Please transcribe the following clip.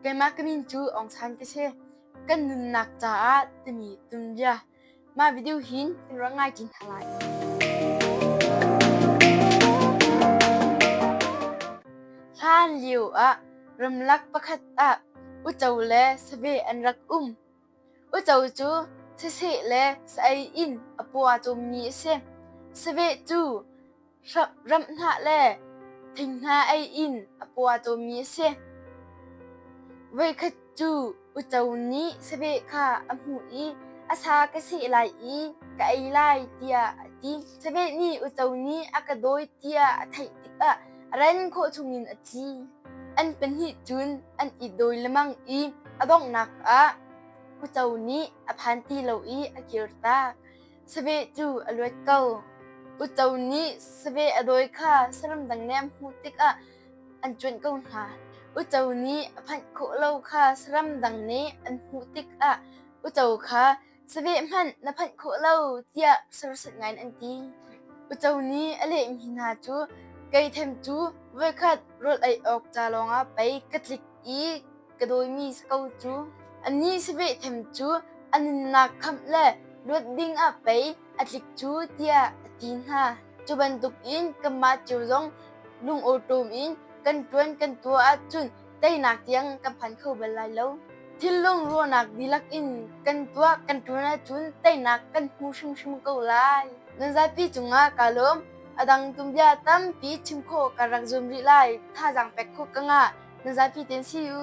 Keimah ka min cu Aung San ka si. Kan nunnak caah timi tum bia. Mah video hin ka rak ngai chin hna lai. Hlan lio ah ramlak pakhat ah uco le save an rak um. Uico cu siseh le sa-ei in a pua cawmmi a si. Saveh cu ram hnah le thinghnah ei in a pua cawmmi a si. Voikhat cu uico nih saveh kha a hmuh i a sa ka seh lai i ka ei lai tiah a ti. Saveh nih uico nih a ka dawi tiah a theih tikah ren khawh chungin a thi. An pahnih cun an i dawi lemang i a donghnak ah uco nih a phan ti lo i a kir ta. Save cu a luat ko. Uco nih save a dawi kha saram dang nem hmuh tikah an cuanh ko hna. Uco nih a phanh khawh lo kha saram dang nih an hmuh tikah uco kha Caveh hmanh na phanh khawh lo tiah sersit ngai an ti. Uco nih a lehmi hna cu kei them cu voikhat rul ei awk ca lawngah pei ka tlik i ka dawimi si ko cu. Anih siveh them cu a nunnak khamh le luat dingah pei a tlik cu tiah a ti hna. Cu bantukin kanmah cio zong lungawṭawm in kan ṭuan kan tuah ahcun teinak tiang kan phan kho bal lai lo. Thinlung ruahnak dihlak in kan tuah kan ṭun ahcun teinak kan hmu hrimhrim ko lai. Nan zapi cungah kaa lawm. A dang tumbia tampi chim khawh kan rak zuam rih lai. Thazaang pek khawh ka ngah. Nan zapi tein si u.